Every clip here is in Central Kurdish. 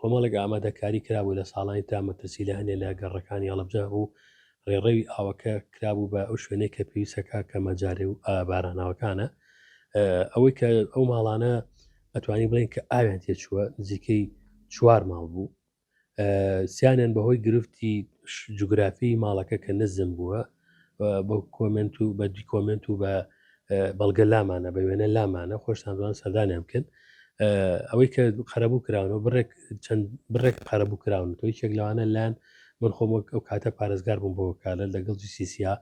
کۆمەڵێک ئامادەکاری کرابوو لە ساڵانی ترا مەترسی لە هەنێ لە گەڕەکانی هەڵەبجە هەبوو ڕێڕەوی ئاوەکە کرابوو بە ئەو شوێنەی کە پێویستەکە کە مەجارێ و باراناوەکانە ئەوەی کە ئەو ماڵانە ئەتوانی بڵێن کە ئاویان تێچووە نزیکەی چوار ماڵ بوو سیانیان بەهۆی گرفتی جوگرافی ماڵەکە کە نزم بووە بە کۆمنت و بە دیکۆمنت و بە بەڵگە لامانە بە وێنە لامانە خۆشتان دوان سەردانیان بکەن ئەوەی کە قەرەبوو کراونەوە بڕێک چەند بڕێک قەرەبوو کراون تۆی چێک لەوانە لایەن من خۆم وەک ئەو کاتە پارێزگار بووم بۆ کارە لەگەڵ جیسیسیا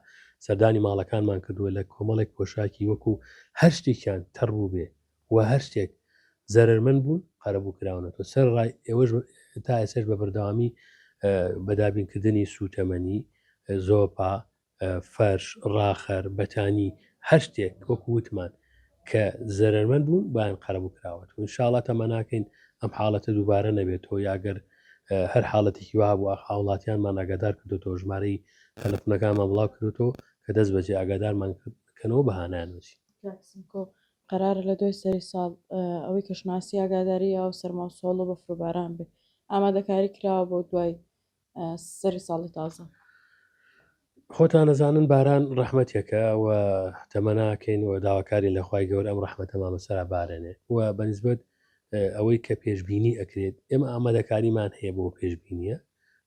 سەردانی ماڵەکانمان کردووە لە کۆمەڵێک پۆشاکی وەکو هەر شتێکیان تەڕوو بێ و هەر شتێک زەرەرمەند بوون قەرەبوو کراونەتەوە سەرەڕای ئێوەش تا ئێسش بە بەردەوامی بە دابینکردنی سووتەمەنی زۆپا فەرش ڕاخەر بەتانی هەر شتێک وەکو وتمان کە زەرەرمەند بوون بایان قەرەبوو کراوەت و انشاءڵە تەمەناکەین ئەم حاڵەتە دووبارە نەبێتەوە یاگەر هەر حاڵەتێکی وا بوو هاوڵاتیانمان ئاگادار کردوەوە ژمارەی تەلفنەکانمان بڵاو کردوەوە کە دەست بەجێ ئاگادارمان کردکەنەوە بەهانانوچی قەرارە لە دوای سەری ساڵ ئەوەی کەشناسی ئاگاداری ئاو سەرما و سۆڵە و بەفر و باران بێ ئامادەکاری کراوە بۆ دوای سەری ساڵی تازە. خۆتان ئەزانن باران ڕەحمەتێکە و تەمەناکەین و داواکارین لە خوای گەورە ئەم ڕەحمەتەمان بەسەرا بارێنێ و بەنسبەت ئەوەی کە پێشببینی ئەکرێت ئێمە ئامادەکاریمان هەیە بۆ پێشببینیە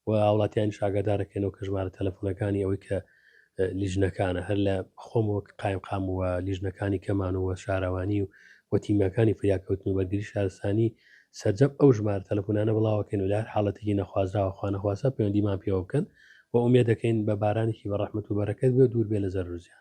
و هاوڵاتیانیش ئاگادار دەکەینەوە کە ژمارە تەلەفۆنەکانی ئەوەی کە لیژنەکانە هەر لە خۆم وەک قایمقام و لیژنەکانی کەمان و شارەوانی و و تیمەکانی فریاکەوتن و بەرگری شارستانی سەرجەم ئەو ژمارە تەلەفۆنانە بڵاوەکەن و لە هەر حاڵەتێکی نەخوازراوە خوانەخواسە پەیوەندیمان پێوە بکەن و ئومێ دەکەین بە بارانێکی بە ڕەحمت و بەرەکەت بێ دوور بێ لە زەرزیان